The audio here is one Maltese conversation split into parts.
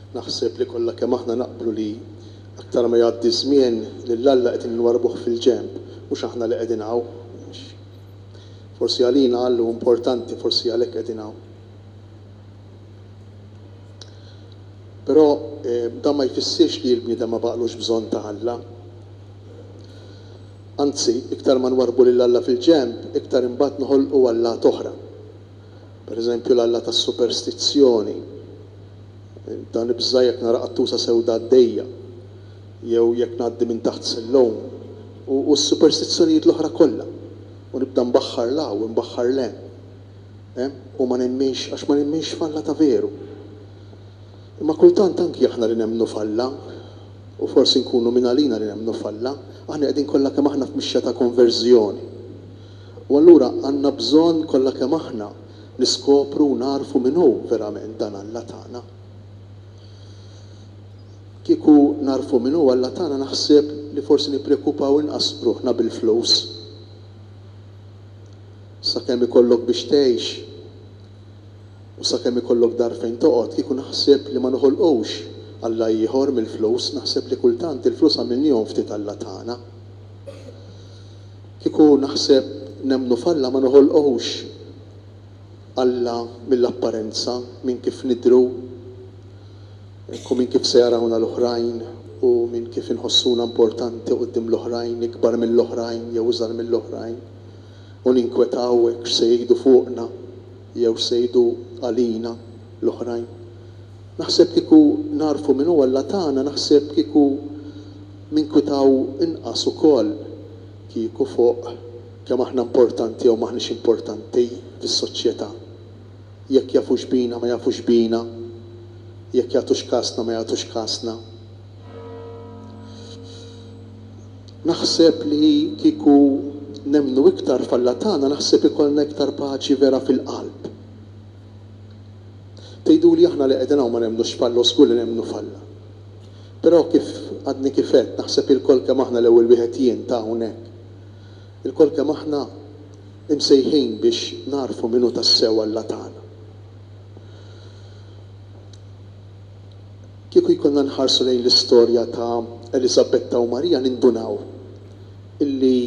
Naħseb li kollha kemm aħna naqblu li aktar ma jgħaddi ż-żmien, lil Alla qegħdin inwarrbuh fil-ġenb, mhux aħna li qegħdin hawn. Forsi għalina Alla hu importanti, forsi għalhekk qegħdin hawn. Però dan ma jfissirx li l-bniedem ma baqgħlux bżonn ta' Alla. Anzi, iktar ma nwarrbu lil Alla fil-ġenb, iktar imbagħad noħolqu allat oħra. Per eżempju, l-alla tas-superstizzjoni. Nibda nibża' jekk nara qattusa sewda għaddejja, jew jekk ngħaddi minn taħt sillone, u s-superstizzjonijiet l-oħra kollha, u nibda nbaħħar 'l hawn u nbaħħar 'l hemm, u ma nemminx, għax ma nemminx f'Alla ta' veru. Imma kultant anki aħna li nemmnu f'Alla, u forsi nkunu minn għalina li nemmnu f'Alla, aħna qegħdin kollha kemm aħna f'mixja ta' konverżjoni. U allura għandna bżonn kollha kemm aħna niskopru u nagħrfu min hu verament dan Alla tagħna. Kieku nagħrfu min hu Alla tagħna naħseb li forsi nipprekupaw inqas ruħna bil-flus. Sakemm ikollok biex tgħix. U sakemm ikollok dar fejn toqgħod kieku naħseb li ma noħolqux Alla ieħor mill-flus naħseb li kultant il-flus għamilnihom ftit Alla tagħna. Kieku naħseb nemmnu f'Alla ma noħolqux Alla mill-apparenza minn kif nidhru u minn kif se jarawna l-oħrajn u minn kif inħossuna importanti quddiem l-oħrajn ikbar mill-oħrajn jew iżgħar mill-oħrajn. u ninkwetaw hekk x'se jgħidu fuqna jew x'se jgħidu għalina l-oħrajn. Naħseb kieku nagħrfu min hu Alla tagħna naħseb kieku ninkwitaw inqas ukoll kieku fuq kemm aħna importanti jew m'aħniex importanti fis-soċjetà. Jekk jafux bina ma jafux bina, jekk jagħtux kasna ma jagħtux kasna. Naħseb li kieku nemmnu iktar f'Alla tagħna naħseb ikollna iktar paċi vera fil-qalb. Tgħiduli aħna li qegħdin hawn ma nemmnux f'Alla u żgur li nemmnu f'Alla. Però kif għadni kif għedt naħseb ilkoll kemm aħna l-ewwel wieħed jien ta' hawnhekk, ilkoll kemm aħna imsejħin biex nagħrfu min hu tassew Alla tagħna. Kieku jkollna nħarsu lejn l-istorja ta' Eliżabetta u Marija nindunaw illi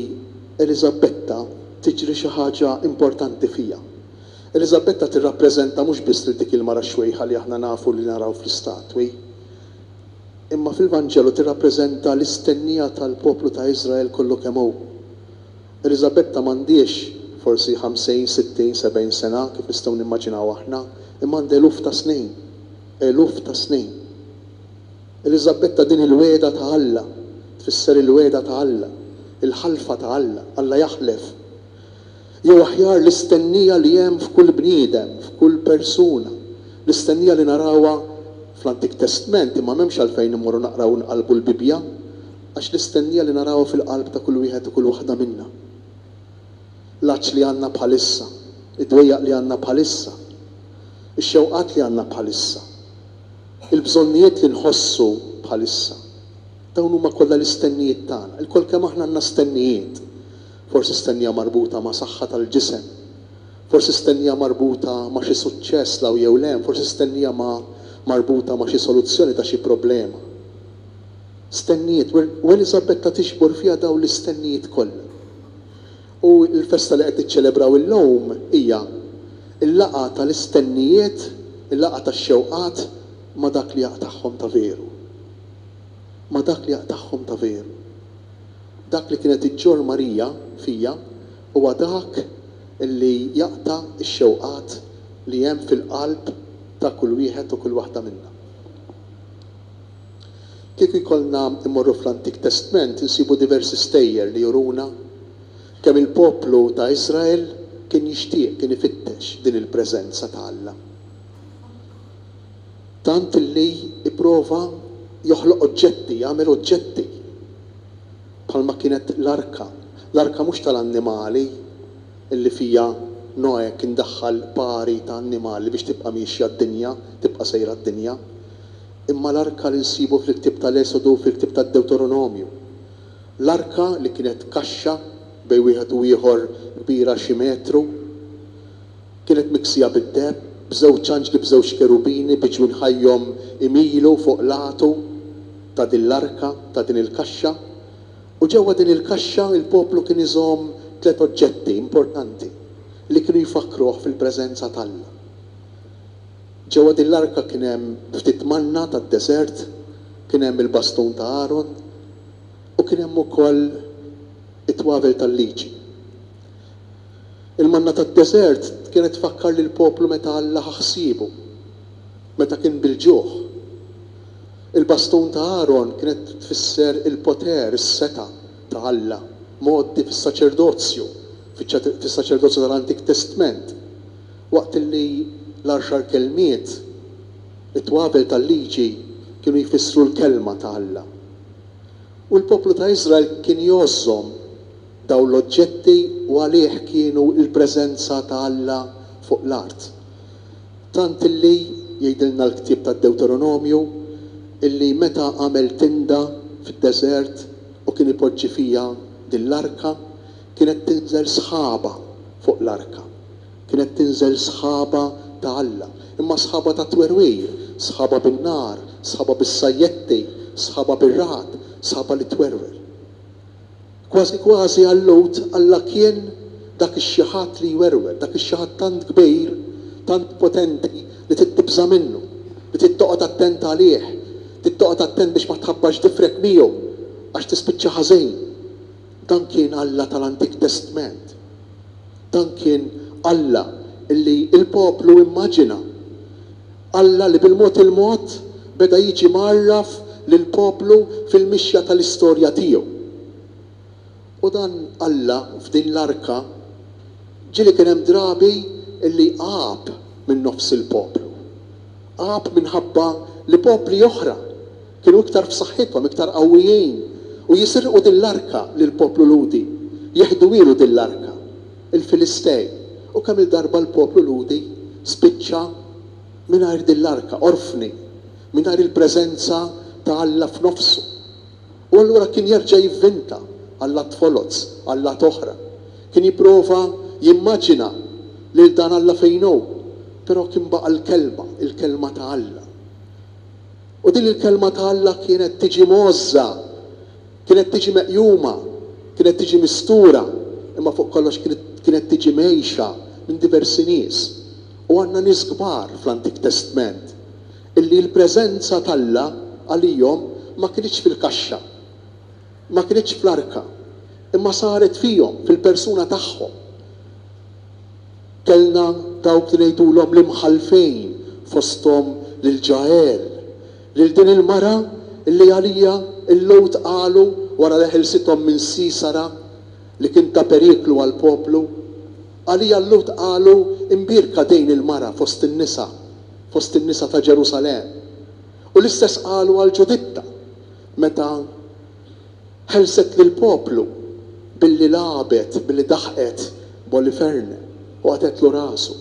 Eliżabetta tiġri xi ħaġa importanti fiha. Eliżabetta tirrappreżenta mhux biss lil dik il-mara xwejħa li aħna nafu li naraw fl-istatwi, imma fil-Vanġelu tirrappreżenta l-istennija tal-poplu ta' Iżrael kollu kemm hu. Eliżabetta m'għandhiex forsi ħamsin, sittin, sebgħin sena kif nistgħu nimmaġinaw aħna, imma għandha eluf ta' snin. eluf ta' snin. Eliżabetta din il-wegħda ta' Alla, tfisser il-wegħda ta' Alla, il-ħalfa ta' Alla, Alla jaħlef. Jew aħjar l-istennija li hemm f'kull bniedem, f'kull persuna, l-istennija li narawha fl-Antik Testment imma m'hemmx għalfejn immorru naqraw u nqallbu l-Bibbja, għax l-istennija li narawha fil-qalb ta' kull wieħed u kull waħda minna. l-għatx li għandna bħalissa, id-dwejjaq li għandna bħalissa, ix-xewqat li għandna bħalissa, il-bżonnijiet li nħossu bħalissa. Dawn huma kollha l-istennijiet tagħna. Ilkoll kemm aħna għandna stennijiet. Forsi stennija marbuta ma' saħħa tal-ġisem. Forsi stennija marbuta ma' xi suċċess 'l hawn jew 'l hemm. Forsi stennija ma' marbuta ma' xi soluzzjoni ta' xi problema. Stennijiet, u Eliżabetta tiġbor fiha dawn l-istennijiet kollha. U l-festa li qed tiċċelebraw illum hija l-laqgħa tal-istennijiet, il-laqgħa tax-xewqat ma' dak li jaqtagħhom ta' veru. Ma' dak li jaqtagħhom ta' veru. Dak li kienet iġġorr Marija fija huwa dak li jaqta' x-xewqat li hemm fil-qalb ta' kull wieħed u kull waħda minna. Kieku jkollna mmorru fl-Antik Testment insibu diversi stejjer li juruna kemm il-poplu ta' Iżrael kien jixtieq, kien ifittex din il-preżenza ta' Alla. Tant li pprova joħloq oġġetti, jagħmel oġġetti. Bħalma kienet l-arka. L-arka mhux tal-annimali li fiha Noè kien daħħal pari ta' annimali biex tibqa' miexja d-dinja, tibqa' sejra d-dinja. Imma l-arka li nsibu fil-ktieb tal-Esodu u fil-ktieb tad-Dewteronomju. L-arka li kienet kaxxa bejn wieħed u ieħor kbira xi metru. Kienet miksija bid-deheb, b'żewġ anġli b'żewġ kerubini bi ġwien ħajjhom imilu fuq l-għatu ta' din l-arka, ta' din il-kaxxa. U ġewwa din il-kaxxa l-poplu kien iżomm tliet oġġetti importanti li kienu jfakkruh fil-preżenza t'Alla. Ġewwa din l-arka kien hemm ftit manna tad-deżert, kien hemm il-bastun ta' Aron, u kien hemm ukoll it-twavel tal-Liġi. Il-manna tad-deżert kienet tfakkar lill-poplu meta Alla ħa ħsiebu, meta kien bil-ġuħ. Il-bastun ta' Aron kienet tfisser il-poter, is-setgħa, ta' Alla, mgħoddi fis-saċerdozju, fiċ-saċerdozju tal-Antik Testment. Waqt li l-għaxar kelmiet, it-twabel tal-Liġi, kienu jfissru l-Kelma ta' Alla, u l-poplu ta' Iżrael kien jgħożżhom, dawn l-oġġetti u għalih kienu l-preżenza ta' Alla fuq l-art. Tant li, jgħidilna l-ktieb tad-Dewteronomju, illi meta għamel tinda fid-deżert u kien ipoġġi fiha din l-arka, Kienet tinżel sħaba fuq l-arka. Kienet tinżel sħaba ta' Alla. Imma sħaba ta' twerwir, sħaba bin-nar, sħaba bis-sajjetti, sħaba bir-ragħad, sħaba li twerwer. Kważi kważi għal Lowt Alla kien dak ix-xi ħadd li jwerwer, dak ix-xi ħadd tant kbir, tant potenti li trid tibża' minnu, li trid toqgħod attent għalih, trid toqgħod attent biex ma tħabbax difrek miegħu għax tispiċċa ħażin. Dan kien Alla tal-Antik Testment. Dan kien Alla li l-poplu immaġina. Alla li bil-mod il-mod beda jiġi mgħarraf lill-poplu fil-mixja tal-istorja tiegħu. U dan Alla f'din l-Arka ġieli kien hemm drabi li għab min-nofs il-poplu. Għab minħabba li popli oħra Kienu iktar f'saħħithom, iktar qawwijin, u jisirqu din l-arka lill-poplu Lhudi. Jeħduhielu din l-arka, il-Filistej. U kemm-il darba l-poplu Lhudi spiċċa mingħajr din l-arka, orfni, mingħajr il-preżenza ta' Alla f'nofsu. U allura kien jerġa' jivvinta allat foloz, allat oħra. Kien jipprova jimmaġina lil dan Alla fejn hu, però kien baqa' l-Kelma, il-Kelma ta' Alla. U din il-Kelma ta' Alla kienet tiġi mgħożża, kienet tiġi meqjuma, kienet tiġi mistura, imma fuq kollox kienet tiġi mgħejxa minn diversi nies. U għandna nies kbar fl-Antik Testment illi l-preżenza t'Alla għalihom ma kinitx fil-kaxxa. ma kinitx fl-arka, imma saret fihom, fil-persuna tagħhom. Kellna dawk li ngħidulhom l-imħallfejn, fosthom lil Ġael, lil din il-mara li għaliha l-Lhud qalu wara li ħelsithom minn Sisara li kien ta' periklu għall-poplu, għaliha l-Lhud qalu imbierka din il-mara fost in-nisa, fost in-nisa ta' Ġerusalemm. U l-istess qalu għal Ġuditta. meta ħelset lill-poplu billi lagħbet, billi daħqet b'Oliferne u qatgħetlu rasu.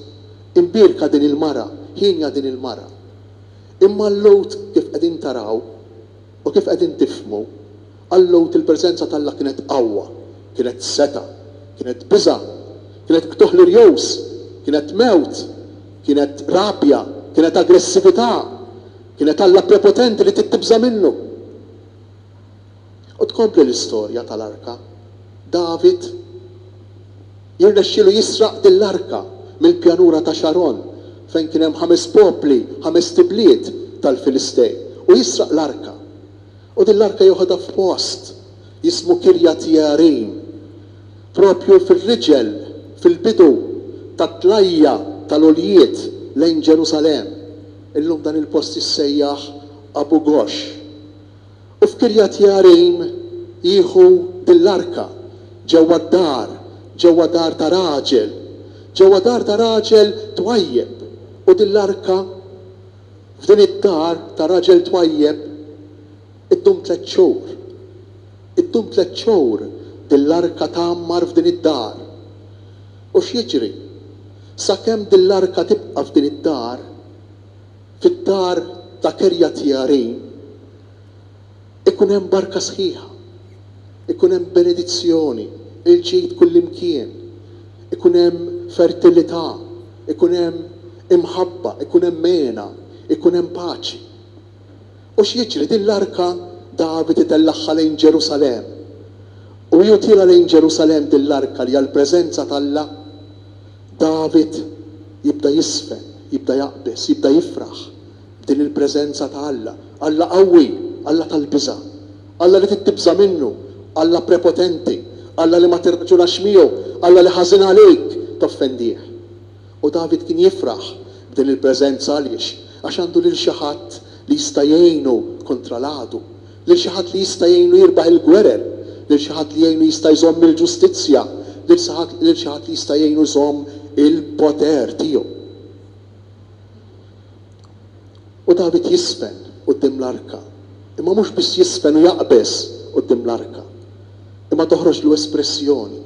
Imbierka din il-mara, hienja din il-mara. Imma l-Lhud kif qegħdin taraw u kif qegħdin tifhmu, għal-Lhud il-preżenza t'Alla kienet qawwa, kienet setgħa, kienet biża', kienet qtugħ l-irjus, kienet mewt, kienet rabja, kienet aggressività. Kienet Alla prepotenti li trid tibża' minnu. U tkompli l-istorja tal-arka. David jirnexxielu jisraq din l-arka mill-pjanura ta' Xaron fejn kien hemm ħames popli, ħamest ibliet tal-Filistej, u jisraq l-arka. U din l-arka jeħodha f'post jismu Kirjat Jearim, proprju fir-riġel, fil-bidu tat-tlajja tal-għoljiet lejn Ġerusalemm. Illum dan il-post jissejjaħ Abu Ghosh. U f'Kiryat Jearim jieħu din l-arka, ġewwa d-dar, ġewwa dar ta' raġel, ġewwa dar ta' raġel twajjeb, u din l-arka f'din id-dar ta' raġel twajjeb, Iddum tlett xhur. Iddum tlett xhur din l-arka tgħammar f'din id-dar. U x'jiġri? Sakemm din l-arka tibqa' f'din id-dar, fid-dar ta' Kerjatjearim, ikun hemm barka sħiħa, ikun hemm benedizzjoni, il-ġid kullimkien, ikun hemm fertilità, ikun hemm imħabba, ikun hemm hena, ikun hemm paċi. U x'jiġri? Din l-arka David itellagħha lejn Ġerusalemm. U jgħotilha lejn Ġerusalemm din l-arka li hija l-preżenza t'Alla. David jibda jiżfen, jibda jaqbeż, jibda jifraħ b'din il-preżenza ta' Alla. Alla qawwi, Alla tal-biża'. Alla li trid tibża' minnu. Alla prepotenti. Alla li ma tirraġunax miegħu. Alla li ħażin għalik toffendih. U David kien jifraħ b'din il-preżenza għaliex? Għax għandu lil xi ħadd li jista' jgħinu kontra l-għadu, lil xi ħadd li jista' jgħinu jirbaħ il-gwerer, lil xi ħadd li jgħinu jista' jżomm il-ġustizzja, lil xi ħadd lil xi ħadd li jista' jgħinu jżomm il-poter tiegħu. U David jiżfen quddiem l-arka, imma mhux biss jiżfen u jaqbeż quddiem l-arka, imma toħroġlu espressjoni,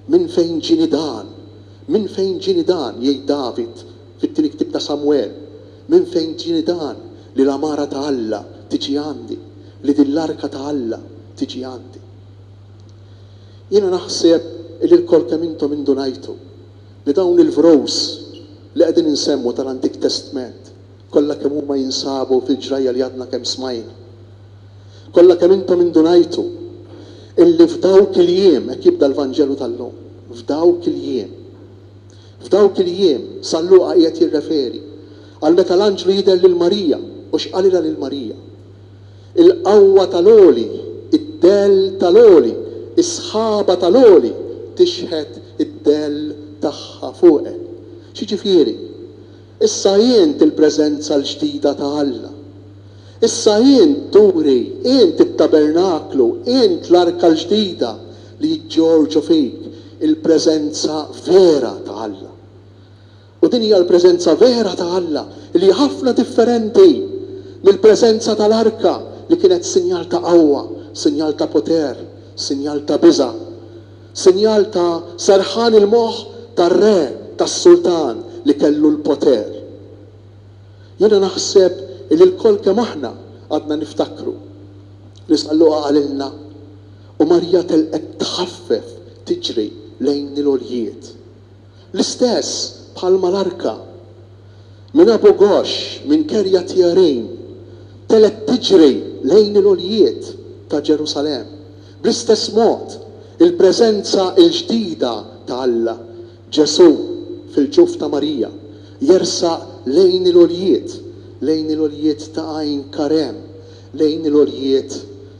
Minn fejn ġieni dan? Minn fejn ġieni dan, jgħid David fit-tieni ktieb ta' Samwel, minn fejn ġieni dan li l-għamara ta' Alla tiġi għandi, li din l-arka ta' Alla tiġi għandi? Jiena naħseb li lkoll kemm intom indunajtu li dawn il-vros li qegħdin insemmu tal-Antik Testment Kollha kemm huma jinsabu fil-ġrajja li għadna kemm smajna. Kollha kemm intom indunajtu illi f'dawk il-jiem, hekk jibda l-Vanġelu tal-lum, f'dawk il-jiem. F'dawk il-jiem, San Luqa qiegħed jirreferi għal meta l-anġlu jidher lil Marija u x'qalilha lil Marija. Il-qawwa tal-għoli, id-dell tal-għoli, is-sħaba tal-għoli tixħet id-dell tagħha fuqek. X'jiġifieri? Issa int il-preżenza l-ġdida ta' Alla. Issa int turi, int it-tabernaklu, int l-arka l-ġdida li jiġġorġu fik, il-preżenza vera ta' Alla. U din hija l-preżenza vera ta' Alla li hi ħafna differenti mill-preżenza tal-arka li kienet sinjal ta' qawwa, sinjal ta' poter, sinjal ta' biża'. sinjal ta' serħan il-moħħ tar-re, tas-sultan li kellu l-poter. Jiena naħseb illi lkoll kemm aħna għadna niftakru li San Luqa qalilna, U Marija telqet tħaffef tiġri lejn il-għoljiet. L-istess bħal mal-arka. Minn Abu Ghosh, minn Kerjat Jearim, telgħet tiġri lejn il-għoljiet ta' Ġerusalemm. Bl-istess mod, il-preżenza l-ġdida ta' Alla, Ġesù fil-ġuf ta' Marija, jersaq lejn il-għoljiet, lejn il-għoljiet ta' Għajn Karem, lejn il-għoljiet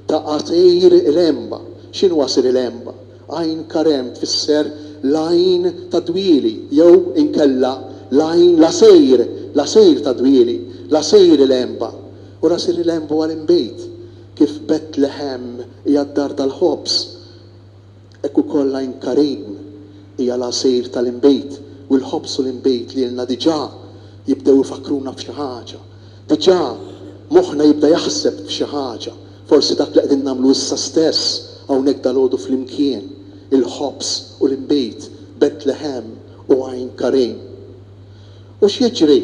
ta' Għasir il-Għemba. X'inhu Għasir il-Għemba? Ain Karem tfisser l-għajn tad-dwieli jew inkella l-għajn l-għasajr, l-għasajr tad-dwieli, l-għasajr il-għenba, u ras il-għenba huwa l-inbid. Kif Bet Leħem hija d-dar tal-ħobż, hekk ukoll Ain Karem hija l-għasajr tal-inbid, u l-ħobż u l-inbid lilna diġà jibdew ifakkruna f'xi ħaġa. Diġà moħħna jibda jaħseb f'xi ħaġa, forsi dak li qegħdin nagħmlu issa stess hawnhekk dalgħodu flimkien, il-ħobż u l-inbid, Betlehem u Għajn Karim. U x'jiġri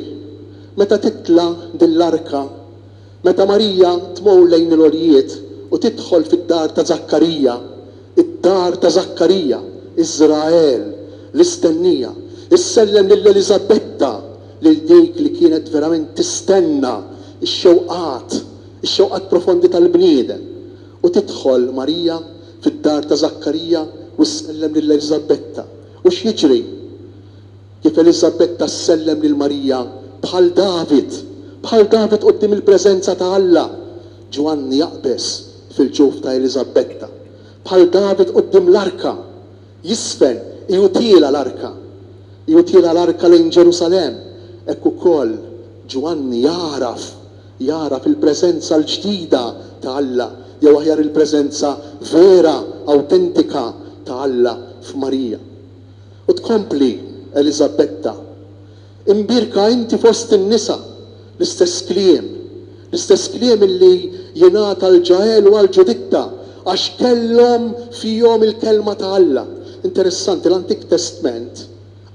meta titla' din l-arka? Meta Marija tmur lejn il-għoljiet u tidħol fid-dar ta' Żakkarija, Id-dar ta' Żakkarija, Iżrael, l-istennija, issellem lil Eliżabetta, lil dik li kienet verament tistenna x-xewqat, ix-xewqat profondi tal-bniedem. U tidħol Marija fid-dar ta' Żakkarija u ssellem lil Eliżabetta. U x'jiġri? Kif Eliżabetta ssellem lil Marija bħal David, bħal David quddiem il-preżenza ta' Alla, Ġwanni jaqbeż fil-ġuf ta' Eliżabbetta, bħal David quddiem l-arka, jiżfen, igħutielha l-arka, igħutielha l-arka lejn Ġerusalemm, hekk ukoll Ġwanni jagħraf, jagħraf il-preżenza l-ġdida ta' Alla, jew aħjar il-preżenza vera, awtentika ta' Alla f'Marija. U tkompli Eliżabbetta, Imbierka inti fost in-nisa, l-istess kliem, l-istess kliem li jingħata l-Ġael u għall-Ġuditta, għax kellhom fihom il-kelma ta' Alla. Interessanti, l-Antik Testment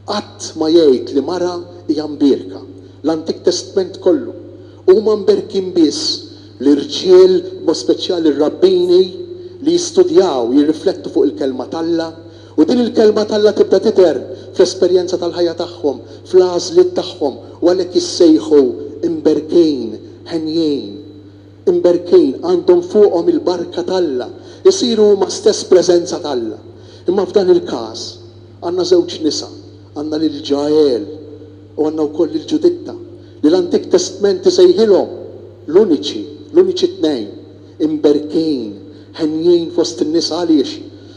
qatt ma jgħid li mara hija mbierka. L-Antik Testment kollu. Huma mberkin biss l-irġiel, b'mod speċjali r-rabbini, li jistudjaw, jirriflettu fuq il-kelma t'Alla, U din il-Kelma t'Alla tibda tidher fl-esperjenza tal-ħajja tagħhom, fl-għażliet tagħhom, u għalhekk jissejħu imberkin, henjin. Imberkin, għandhom fuqhom il-barka t'Alla, isiru huma stess preżenza t'Alla. Imma f'dan il-każ, għandna żewġ nisa, għandna lil Ġael u għandna wkoll lil Ġuditta, li l-Antik Testment isejħilhom l-uniċi, l-uniċi tnejn. imberkin, henjin fost in-nisa għaliex?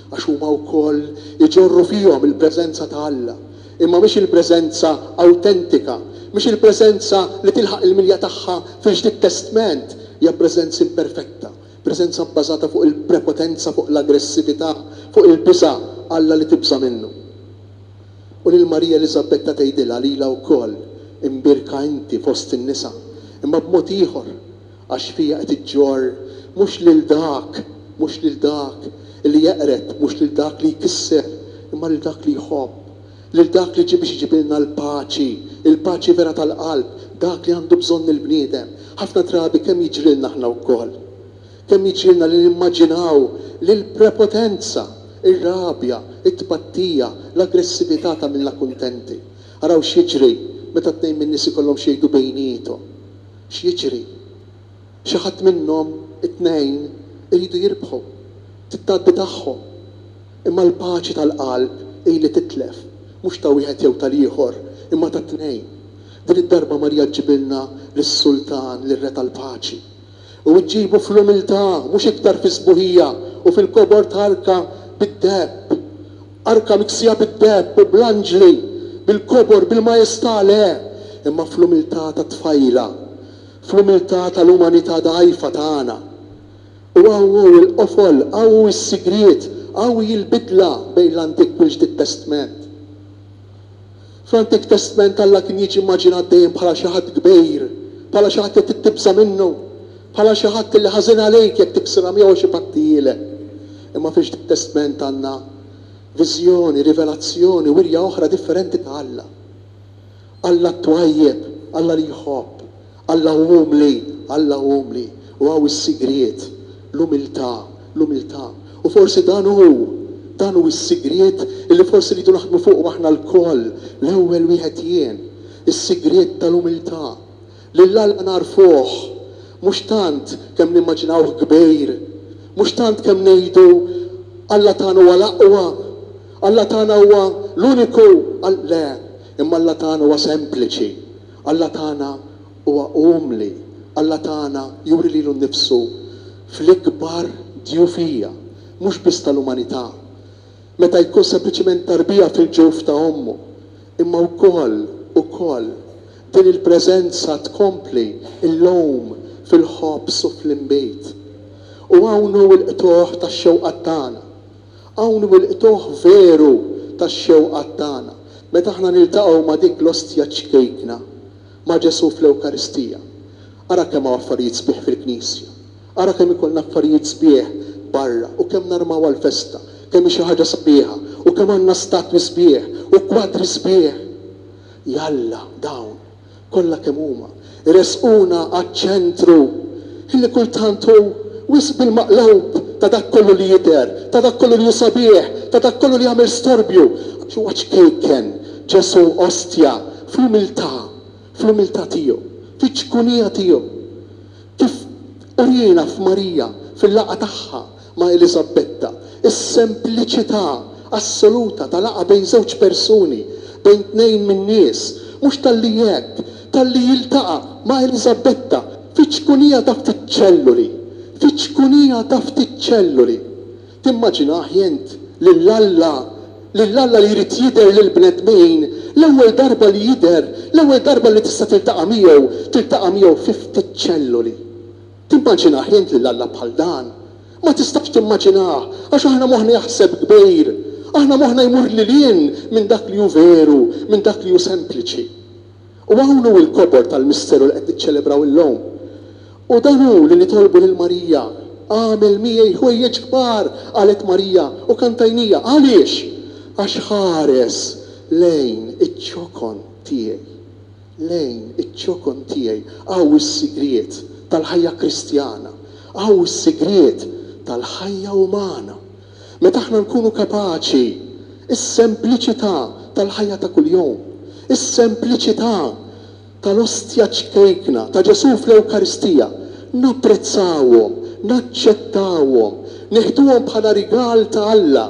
Għax huma wkoll iġorru fihom il-preżenza ta' Alla, imma mhix il-preżenza awtentika, mhix il-preżenza li tilħaq il-milja tagħha fil-Ġdid Testment, hija preżenz imperfetta, preżenza bbażata fuq il-prepotenza, fuq l-aggressività, fuq il-biża', Alla li tibża' minnu. U lil Marija Eliżabetta tgħidilha lilha wkoll, imbierka inti fost in-nisa, imma b'mod ieħor, Għax fija qed iġġorr, mhux lil dak, mhux lil dak, li jeqred, mhux lil dak li jkisser, imma lil dak li jħobb, lil dak li ġie biex iġibilna l-paċi, il-paċi vera tal-qalb, dak li għandu bżonn il-bniedem. Ħafna drabi kemm jiġrilna aħna wkoll. Kemm jiġrilna li nimmaġinaw li l-prepotenza, ir-rabja, it-tpattija, l-aggressività tagħmilna kuntenti. Araw x'jiġri meta tnejn min-nies ikollhom x'jgħidu bejniethom. X'jiġri? Xi ħadd minnhom it-tnejn iridu jirbħu, t-tgħabbi tagħhom. Imma l-paċi tal-qalb hi li titlef, mhux ta' wieħed jew tal-ieħor, imma tat-tnejn. Din id-darba Marija ġġibilna lis-Sultan, lir-Re tal-Paċi. U ġġibu fl-umiltà, mhux iktar fis-sbuħija u fil-kobor tarka bid-deheb. Arka miksija bid-deheb u bl-anġli, bil-kobor, bil-majestà, le, imma fl-umiltà tat-tfajla, fl-umiltà tal-umanità dgħajfa tagħna. U hawn hu l-qofol, hawn hu s-sigriet, hawn hi l-bidla bejn l-Antik u l-Ġdid Testment. Fl-Antik Testment Alla kien jiġi immaġinat dejjem bħala xi ħadd kbir, bħala xi ħadd li trid tibża' minnu, bħala xi ħadd li ħażin għalejk jekk tiksirha miegħu għax ibattihielek. Imma fil-Ġdid Testment għandna viżjoni, rivelazzjoni, wirja oħra differenti ta' Alla. Alla t-twajjeb, Alla li jħobb, Alla hu umli, Alla hu umli, u hawn is-sigriet, l-umiltà, l-umiltà. U forsi dan hu, dan hu s-sigriet li forsi rridu naħdmu fuqu aħna lkoll, l-ewwel wieħed jien, is-sigriet tal-umiltà. Lil Alla nagħrfuh mhux tant kemm nimmaġinawh kbir, mhux tant kemm ngħidu, Alla tagħna huwa l-aqwa, Alla tagħna huwa l-uniku, le, imma Alla tagħna huwa sempliċi, Alla tagħna huwa umli, Alla tagħna juri lilu nnifsu fl-ikbar djufija, mhux biss tal-umanità, meta jkun sempliċement tarbija fil-ġuf ta' ommu, imma wkoll, ukoll, din il-preżenza tkompli llum fil-ħobż u fl-inbid. U hawn hu l-qtugħ tax-xewqat tagħna. Hawn wilqtuh veru tax-xewqat tagħna meta aħna niltaqgħu ma' dik l-Ostja ċkejkna, ma' Ġesù fl-Ewkaristija. Ara kemm hawn affarijiet sbieħ fil-Knisja! Ara kemm ikollna affarijiet sbieħ barra u kemm narmaw għall-festa, kemm hi xi ħaġa sabiħa u kemm għandna statwi sbieħ u kwadri sbieħ! Jalla, dawn, kollha kemm huma, iressquna għaċ-ċentru li kultant hu wisq bil-maqlub ta' dak kollu li jidher, ta' dak kollu li hu sabiħ, ta' dak kollu li jagħmel storbju, għax huwa ċkejken, Ġesù ostja, fl-umiltà, fl-umiltà tiegħu, fiċ-ċkunija tiegħu, kif urina f'Marija, fil-laqgħa tagħha ma' Eliżabbetta, is-sempliċità assoluta ta' laqgħa bejn żewġ persuni, bejn tnejn min-nies, mhux talli jgħedd, talli jiltaqa' ma' Eliżabbetta fi ċkunija ta' ftit ċelluli, fi ċkunija ta' ftit ċelluli. Timmaġinaħ int lil Alla, lil Alla li jrid jidher lill-bnedmin, l-ewwel darba li jidher, l-ewwel darba li tista' tiltaqa' miegħu, tiltaqa' miegħu fi ftit ċelluli? Timmaġina ħnient lil Alla bħal dan? Ma tistax timmaġinah, għax aħna moħħna jaħseb kbir. Aħna moħħna jmur lil hinn minn dak li hu veru, minn dak li hu sempliċi. U hawn hu l-kobor tal-misteru li qed niċċelebraw illum. U dan hu li nitolbu lil Marija, Agħmel miegħi ħwejjeġ kbar, qalet Marija, u kantajnija. Għaliex? Għax ħares lejn iċ-ċokon tiegħi. lejn iċ-ċokon tiegħi, hawn is-sigriet tal-ħajja Kristjana, hawn is-sigriet tal-ħajja umana. Meta aħna nkunu kapaċi, is-sempliċità tal-ħajja ta' kuljum, is-sempliċità tal-Ostja ċkejkna ta' Ġesù fl-Ewkaristija, napprezzawhom, naċċettawhom, nieħduhom bħala rigal ta' Alla,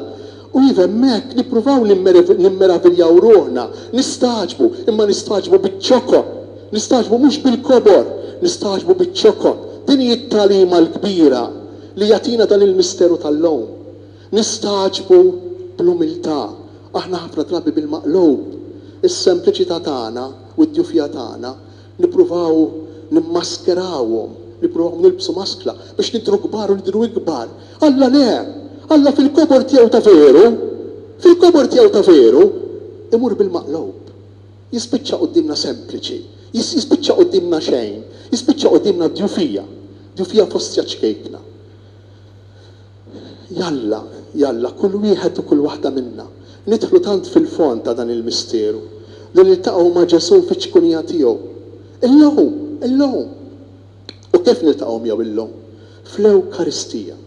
U iva hemmhekk nippruvaw nimmeraviljaw ruħna, nistagħġbu, imma nistagħġbu biċ-ċokon. Nistagħġbu mhux bil-kobor, nistagħġbu biċ-ċokon. Din hi t-tagħlima l-kbira li jagħtina dan il-misteru tal-lum. Nistagħġbu bl-umiltà, aħna ħafna drabi bil-maqlub. Is-sempliċità tagħna u d-djufija tagħna Nippruvaw nimmaskerawhom, nippruvaw nilbsu maskla biex nidhru kbar u nidhru ikbar. Alla le! Alla fil-kobor tiegħu ta' veru, fil-kobor tiegħu ta' veru, imur bil-maqlub. Jispiċċa quddiemna sempliċi, jispiċċa quddiemna xejn, jispiċċa quddiemna djufija, djufija fost xaċkejkna. Jalla, jalla, kull wieħed u kull waħda minna, nidħlu tant fil-fond ta' dan il-misteru, li niltaqgħu ma' Ġesù fiċ-ċkunija tiegħu. Illum! Illum! U kif niltaqgħu miegħu illum? Fl-Ewkaristija.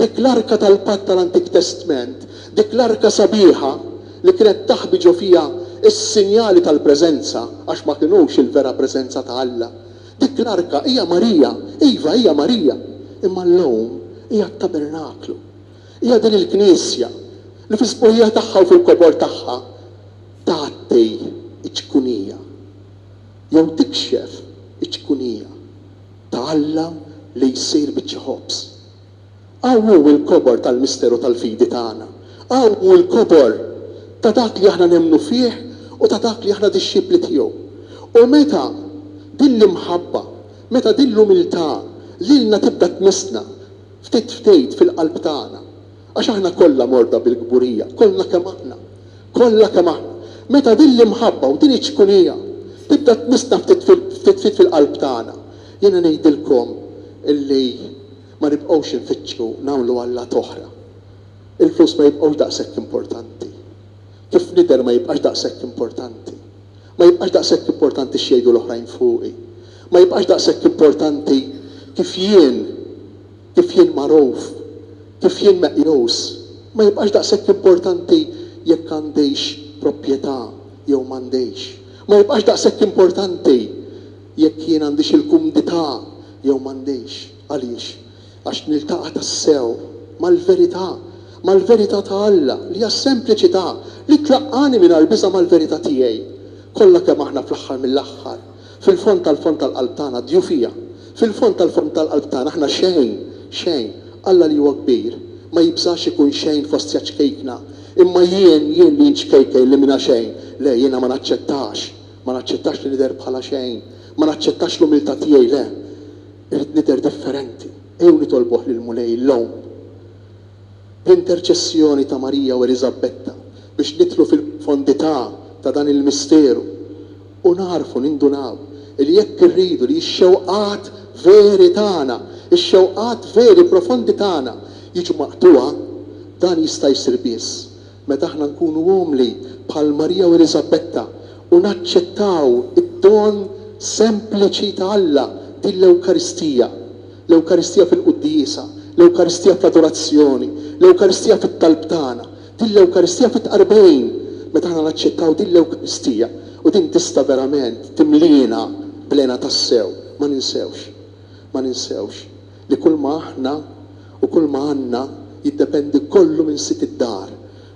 Dik l-arka tal-patt tal-Antik Testment, dik l-arka sabiħa li kienet taħbi ġo fiha s-sinjali tal-preżenza, għax ma kinux il-vera preżenza ta' Alla, Dik l-arka hija Marija, iva, hija Marija, imma llum hija t-tabernaklu. Hija din il-Knisja li fis-sbuħija tagħha u fil-kobor tagħha tgħatti ċ-ċkunija, jew tikxef iċ-ċkunija, ta' Alla li jsir biċċa ħobż. Hawn hu l-kobor tal-misteru tal-fidi tagħna. Hawn hu l-kobor ta' dak li aħna nemmnu fih u ta' dak li aħna dixxipli tiegħu. U meta din l-imħabba, meta din l-umiltà lilna tibda tmissna ftit ftit fil-qalb tagħna, għax aħna kollha morda bil-kburija, kollha kemm aħna, kollha kemm aħna, meta din l-imħabba u din iċ-ċkunija tibda tmissna ftit ftit ftit fil-qalb tagħna, Jiena ngħidilkom illi ma nibqgħux infittxu nagħmlu allat oħra. Il-flus ma jibqgħux daqshekk importanti. Kif nidher ma jibqax daqshekk importanti. Ma jibqax daqshekk importanti x'jgħidu l-oħrajn fuqi. Ma jibqax daqshekk importanti kif jien, kif jien magħruf, kif jien meqjus. Ma jibqax daqshekk importanti jekk għandix propjetà jew m'għandix. Ma jibqax daqshekk importanti. Jekk jien għandix il-kumdità jew m'għandix. Għaliex? Għax niltaqa' tassew mal-verità, mal-verità ta' Alla, li hija s-sempliċità, li tlaqqagħni mingħajr biża' mal-verità tiegħi. Kollha kemm aħna fl-aħħar mill-aħħar, fil-fond tal-fond tal-qalb tagħna, djufija. Fil-fond tal-fond tal-qalb tagħna aħna xejn, xejn. Alla li huwa kbir, ma jibżax ikun xejn fostja ċkejkna. Imma jien, jien li nċkejkel, li m'iena xejn, le, jiena ma naċċettax. Ma naċċettax li nidher bħala xejn. Ma naċċettax l-umiltà tiegħi, le. Irrid nidher differenti. Ejjew nitolbuh lill-Mulej illum, bl-interċessjoni ta' Marija u Eliżabetta, biex nidħlu fil-pfondità ta' dan il-misteru u nagħrfu, nindunaw, li jekk irridu li x-xewqat veri tagħna, ix-xewqat veri profondi tagħna jiġu maqtugħa, dan jista' jsir biss Meta aħna nkunu umli bħal Marija u Eliżabetta u naċċettaw id-don sempliċi ta' Alla, din l-Ewkaristija, l-Ewkaristija fil-quddiesa, l-Ewkaristija fl-adorazzjoni, l-Ewkaristija fit-talb tagħna, din l-Ewkaristija fit-tqarbin, meta aħna naċċettaw din l-Ewkaristija, u din tista' verament timliena bl-hena tassew, ma ninsewx, ma ninsewx. li kulma aħna u kulma għandna jiddependi kollu minn Sid id-dar,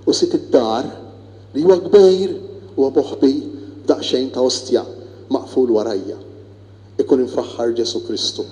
u Sid id-dar, li huwa kbir, huwa moħbi f'daqsxejn ta' ostja maqful warajja. Ikun imfaħħar Ġesù Kristu.